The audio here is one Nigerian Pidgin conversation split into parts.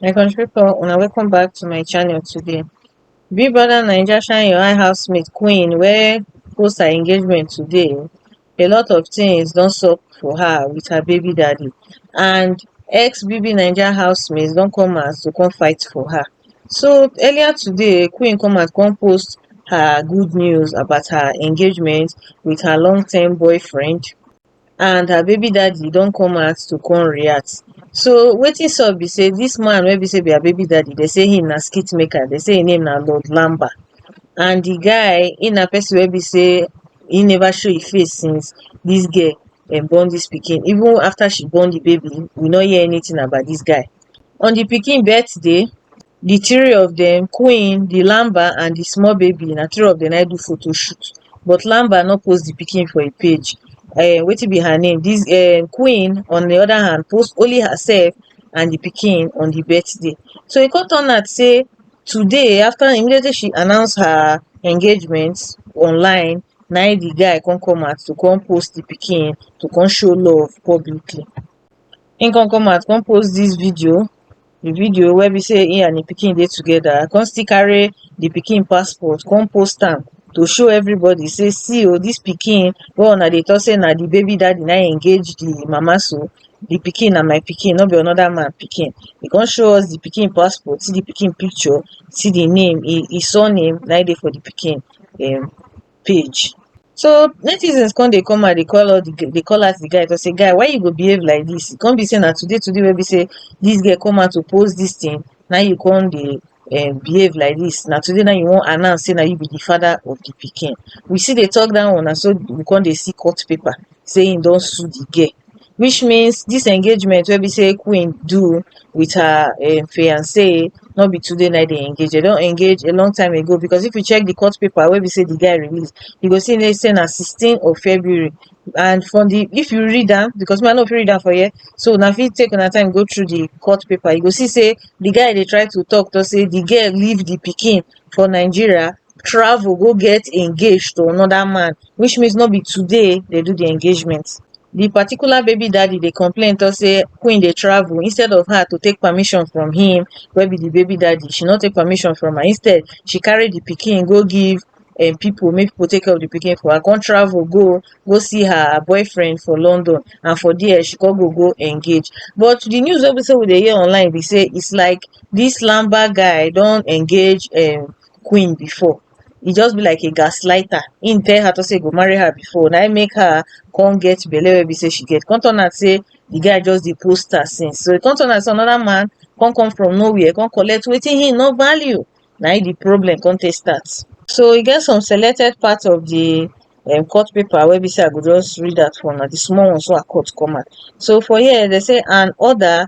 my country people una welcome back to my channel today big brother naija shine your eye housemate queen wey post her engagement today a lot of things don sup for her with her baby daddy and ex bb naija housemates don come out to come fight for her So earlier today, Queen Comas come post her good news about her engagement with her long-term boyfriend and her baby daddy don come out to come react. So wetin sup be say this man wey be say be her baby daddy, they say him na skit maker, they say him name na Lord Lamba and the guy he na person wey be say he never show him face since this girl um, born this pikin even after she born the baby we no hear anything about this guy On di pikin birthday, di three of dem, Queen, di Lamba and di small baby, na three of dem na im do photo shoot. But Lamba no post di pikin for im page. um Wetin be her name? Dis um Queen on di other hand post only herself and di pikin on di birthday. So e come turn out sey today after immediately she announce her engagement online, na im di guy come come out to come post di pikin, to come show love publicly. him come come out come post this video the video wey be say he and the pikin dey together i come still carry the pikin passport come post am to show everybody say see o this pikin wey una dey talk say na the baby daddy na him engage the mama so the pikin na my pikin no be another man pikin he come show us the pikin passport see the pikin picture see the name he he surname na him dey for the pikin um page. So netizens come dey come out dey call all the g- dey call out the guy to say, guy, why you go behave like this? It can't be saying that today, today wey be say this girl come out to post this thing. Now you come dey um, behave like this. Now today now you won't announce say now you be the father of the pikin. We see they talk that one and so we come dey see court paper. say him don sue the girl which means this engagement wey be say queen do with her um fiance no be today na dey engage they don engage a long time ago because if you check the court paper wey be say the guy release you go see say na 16 of February and from the if you read am because me I no fit read am for here so una fit take una time go through the court paper you go see say the guy dey try to talk to say the girl leave the pikin for Nigeria travel go get engaged to another man which means no be today dey do the engagement the particular baby daddy dey complain talk say queen dey travel instead of her to take permission from him wey be the baby daddy she no take permission from her instead she carry the pikin go give um people make people take care of the pikin for her come travel go go see her boyfriend for London and for there she come go go engage but the news wey be say we dey hear online be say it's like this lamba guy don engage um queen before e just be like a gaslighter him tell her to say he go marry her before na him make her come get belle wey be say she get come turn out say the guy just dey post her since so e come turn out say another man come come from nowhere come collect wetin he no value na him the problem come take start so e get some selected part of the um, court paper wey be say i go just read out for una the small ones wey i cut come out so for here they say an order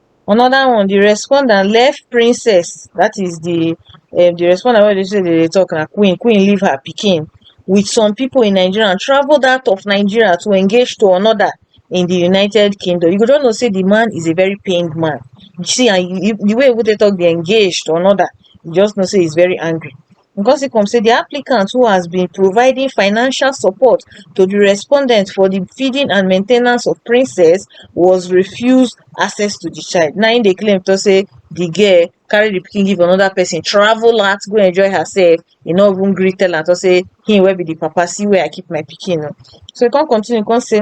another one the respondent left princess that is the um, the respondent wey dey say dey talk na queen queen leave her pikin with some people in nigeria and travelled out of nigeria to engage to another in the united kingdom you go just know say the man is a very pained man you see and you, the way wey dey talk dey engage to another you just know say he's very angry ngozi kom say di applicant who has been providing financial support to di respondent for di feeding and main ten ance of princess was refused access to di child na im dey claim tok say di girl carry di pikin give anoda pesin travel out go enjoy hersef e no even gree tell am tok say him wey be di papa see where i keep my pikin oo so e kon continue kon say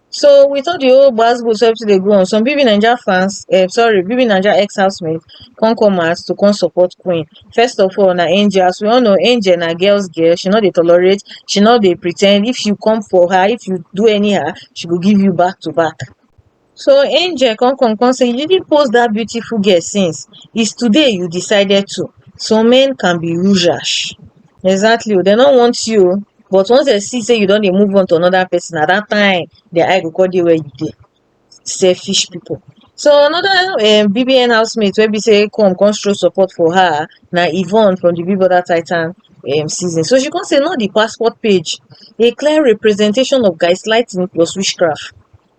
So with all the whole gbas gbos everything dey go on, some BB Naija fans um sorry BB Naija ex housemates come come out to come support Queen. First of all na Angel, as we all know Angel na girls girl, she no dey tolerate, she no dey pre ten d, if you come for her, if you do anyhow she go give you back to back. So Angel come come come say you didn't post that beautiful girl since, it's today you decided to, some men can be rude rash. Exactly o, dem no want you o. but once dem see sey you don dey move on to another person na that time their eye go come dey where you dey selfish people so another um BBN housemate wey be sey come come show support for her na Yvonne from the Big Brother Titan um season so she come say not the passport page a clear representation of gaslighting plus witchcraft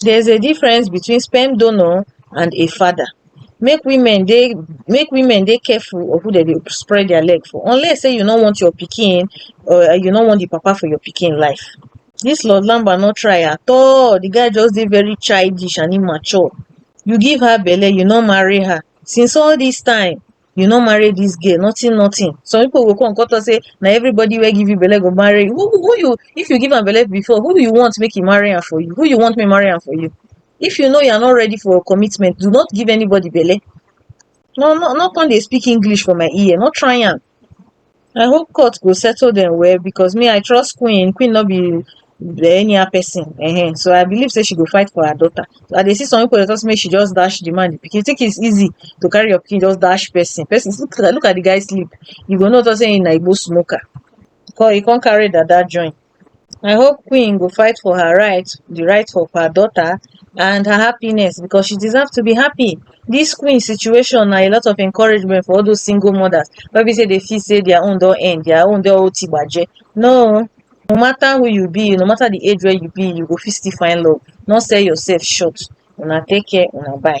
There is a difference between sperm donor and a father. Make women dey make women dey careful of who dem dey spread their leg for unless say you no want your pikin or you no want the papa for your pikin life. This Lord Lamba no try at all. The guy just dey very childish and immature. You give her belle, you no marry her. Since all this time, you no marry this girl nothing nothing some people go come come talk say na everybody wey give you belle go marry you who who you if you give am belle before who you want make e marry am for you who you want make marry am for you if you know you are not ready for commitment do not give anybody belle no no no come dey speak english for my ear no try am i hope court go settle dem well because me i trust queen queen no be anyhow person um so i believe say she go fight for her daughter so i dey see some people dey talk say make she just dash the man the pikin you think it's easy to carry your pikin just dash person person look at look at the guy sleep you go know talk say him na igbo smoker come he come carry dada join I hope Queen go fight for her right, the right of her daughter, and her happiness because she deserves to be happy. This Queen situation na a lot of encouragement for all those single mothers wey be say they feel say their own don end, their own don oti gbaje. No, no matter who you be, no matter the age where you be, you go fit still find love. No sell yourself short. Una take care, una bye.